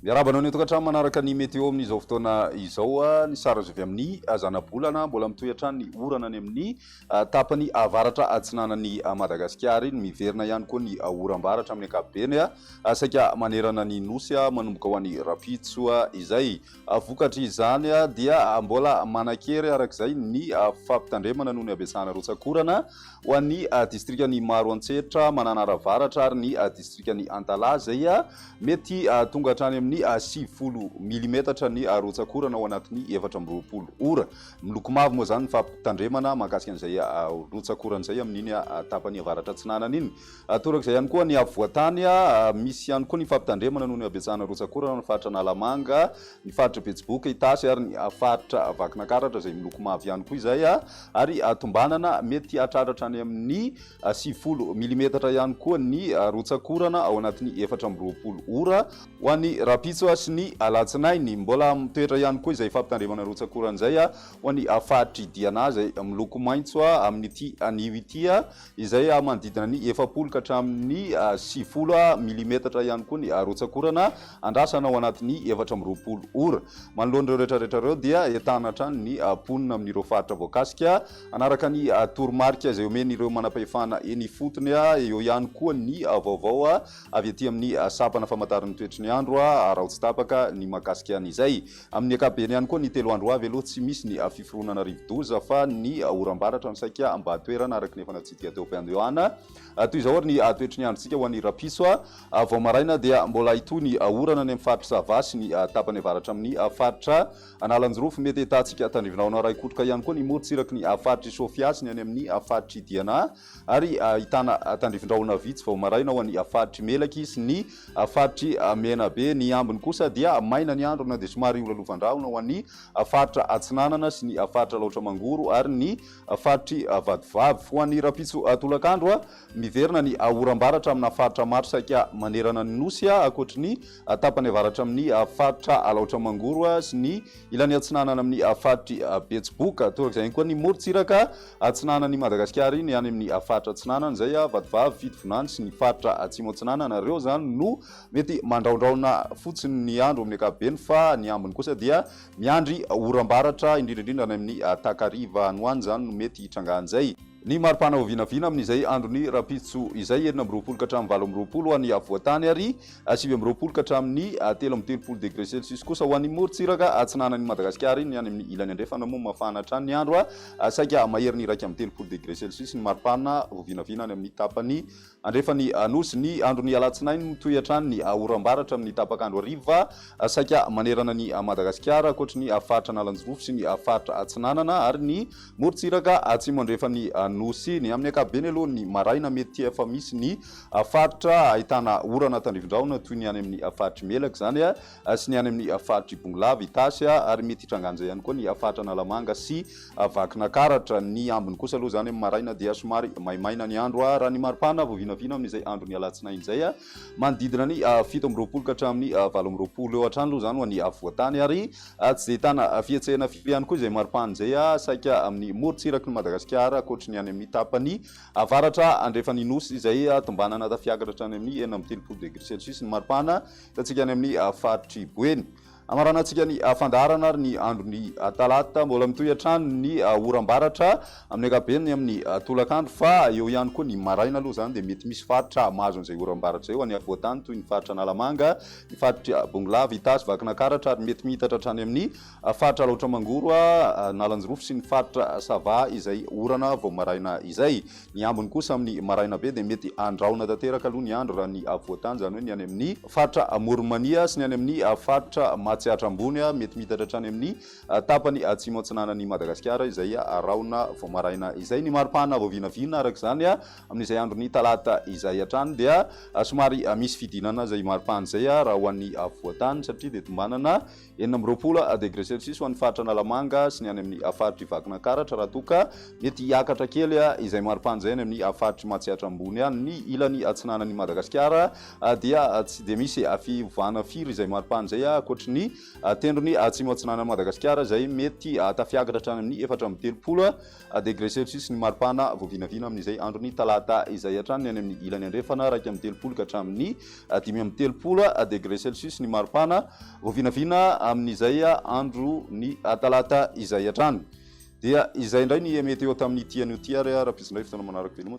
Miarahaba anao ny tokantrano manaraka ny météo amin'izao fotoana izao. Ah, ny sary azo avy amin'ny ah, zanabolana mbola mitohy hatrany ny orana any amin'ny ah, tapany avaratra atsinanan'ny Madagasikara iny. Miverina ihany koa ny oram-baratra amin'ny ankapobeny, saika manerana ny nosy manomboka ho any Rampitso izay. Vokatry izany dia mbola manan-kery araka izay ny fampitandremana noho ny habetsahana rotsak'orana ho an'ny distrikan'i Maroantsetra, Mananara Avaratra ary ny distrikan'i Antalaha izay mety tonga hatrany amin'ny sivifolo milimetatra ny rotsak'orana ao anatin'ny efatra amby roapolo ora. Miloko mavo moa izany ny fampitandremana mahakasika an'izay rotsak'orana izay amin'iny tapany avaratra atsinanana iny. Toraka izay ihany koa ny afovoan-tany. Misy ihany koa ny fampitandremana noho ny habetsahana rotsak'orana ao amin'ny faritra Analamanga, ny faritra Betsiboka, Itasy ary ny faritra Vakinakaratra izay miloko mavo ihany koa izay ary tombanana mety hahatratra hatrany amin'ny sivifolo milimetatra ihany koa ny rotsak'orana ao anatin'ny efatra amby roapolo ora ho an'ny rahampitso sy ny alatsinainy. Mbola mitoetra ihany koa izay fampitandremana rotsak'orana izay ho an'ny faritr'i Diana izay miloko maitso amin'ity anio ity. izay manodidina ny efapolo ka hatramin'ny sivifolo milimetatra ihany koa ny rotsakorana, andrasana ao anatin'ny efatra amby roapolo ora. Manoloana ireo rehetrarehetra ireo dia entana hatrany ny mponina amin'ireo faritra voakasika, hanaraka ny toromarika izay omen'ireo manam-pahefana eny ifotony. Eo ihany koa ny vaovao avy aty amin'ny sampana famantaran'ny toetry ny andro, araho tsy tapaka ny mahakasika an'izay. Amin'ny ankapobeny ihany koa ny telo andro ho avy aloha tsy misy ny fiforonana rivodoza fa ny oram-baratra no saika mba toerana araka ny efa natsidika teo am-piandohana. Toy izao ary ny toetry ny androntsika ho an'ny rahampitso, vao maraina dia mbola hitohy ny orana any amin'ny faritra Sava sy ny tapany avaratra amin'ny faritra Analanjirofo. Mety ahitantsika tandrify rahona raikotroka ihany koa ny morontsiraky ny faritr'i Sofia sy ny any amin'ny faritr'i Diana. ary ahitana tandrifin-drahona vitsy vao maraina ao amin'ny faritry Melaky sy ny faritry Menabe. Ny ambiny kosa dia maina ny andro na dia somary holalovan-drahona ho an'ny faritra Atsinanana sy ny faritra Alaotra Mangoro ary ny faritry Vatovavy. Ho an'ny rahampitso tolakandro, miverina ny oram-baratra amina faritra maro saika manerana ny Nosy, ankoatry ny tapany avaratra amin'ny faritra Alaotra Mangoro sy ny Ilany atsinanana amin'ny faritr'i Betsiboka. Torak'izay ihany koa ny morontsiraka atsinanan'i Madagasikara iny, any amin'ny faritra atsinanana izay, Vatovavy, Fitovinany sy ny faritra atsimo atsinanana. Ireo izany no mety mandraondraona fotsiny ny andro amin'ny ankapobeny fa ny ambiny kosa dia miandry oram-baratra, indrindra indrindra any amin'ny takariva any ho any izany no mety hitrangan'izay. Ny mari-pana ho vinavina amin'izay andron'ny rahampitso izay, enina amby roapolo ka hatramin'ny valo amby roapolo ho an'ny afovoan-tany ary sivy amby roapolo ka hatramin'ny telo amby telopolo degre celsius kosa ho an'ny morontsiraka atsinanan'i Madagasikara. Ny any amin'ny ilany andrefana moa mafana hatrany ny andro, saika maherin'ny iraika amby telopolo degre celsius ny mari-pana ho vinavina any amin'ny tapany Andrefan'ny Nosy. Ny andron'ny alatsinainy no toy hatrany ny oram-baratra amin'ny tapak'andro hariva, saika manerana an'i Madagasikara, ankoatry ny faritra Analanjirofo sy ny faritra Atsinanana ary ny morontsiraka atsimo andrefan'ny Nosy. Ny amin'ny ankapobeny aloha ny maraina mety efa misy ny faritra ahitana orana tandrifindrahona toy ny any amin'ny faritr'i Melaky izany sy ny any amin'ny faritr'i Bongolava, Itasy ary mety hitrangan'izay ihany koa ny faritra Analamanga sy Vakinakaratra. Ny ambiny kosa aloha izany amin'ny maraina dia somary maimaina ny andro raha ny maripana vao vinavina amin'izay andron'ny alatsinainy izay. Manodidina ny fito amby roapolo ka hatramin'ny valo amby roapolo eo hatrany aloha izany ho an'ny afovoantany ary tsy dia ahitana fihetsehana firy ihany koa izay maripana izay saika amin'ny morontsiraky ny Madagasikara ankoatry ny any amin'ny tapany avaratra andrefan'ny Nosy izay tombanana tafiakatra hatrany amin'ny enina amby telopolo degre celsius ny maripana Hitantsika any amin'ny faritr'i Boeny. Hamaranantsika ny fandaharana ary ny andron'ny talata. Mbola mitohy hatrany ny oram-baratra amin'ny ankapobeny amin'ny tolakandro fa eo ihany koa ny maraina aloha izany dia mety misy faritra mahazo an'izay oram-baratra izay ho an'ny afovoan-tany toy ny faritra Analamanga, ny faritr'i Bongolava, Itasy, Vakinakaratra ary mety mihitatra hatrany amin'ny A Faritra Alaotra Mangoro a, Analanjirofo sy ny Faritra Sava izay orana vao maraina izay. Ny ambiny kosa amin'ny maraina be dia mety handraona tanteraka aloha ny andro raha ny afovoan tany izany hoe ny any amin'ny Faritra Amoron'i Mania sy ny any amin'ny Faritra Matsiatra Ambony a, mety miitatra hatrany amin'ny tapany atsimo atsinanan'i Madagasikara izay rahona vao maraina izay. Ny maripana vao vinavina araka izany a, amin'izay andron'ny talata izay hatrany dia somary misy fidinana izay maripana izay raha ho an'ny afovoan tany satria dia tombanana Enina amby roapolo degre celsius ho an'ny faritra Analamanga sy ny any amin'ny faritr'i Vakinankaratra raha toa ka mety hiakatra kely izay maripana izay any amin'ny faritr'i Matsiatra Ambony any. Ny ilany atsinanan'i Madagasikara dia tsy dia misy fiovana firy izay maripana izay ankoatry ny tendrony atsimo-atsinanan'i Madagasikara izay mety tafiakatra hatrany amin'ny efatra amby telopolo Degré Celsius ny maripana voavinavina amin'izay andron'ny talata izay hatrany ny any amin'ny ilany andrefana iraika amby telopolo ka hatramin'ny dimy amby telopolo degré Celsius ny maripana voavinavina amin'izay andron'ny talata izay hatrany. Dia izay indray ny meteo tamin'ity anio ity ary harafesina indray fotoana manaraka veloma.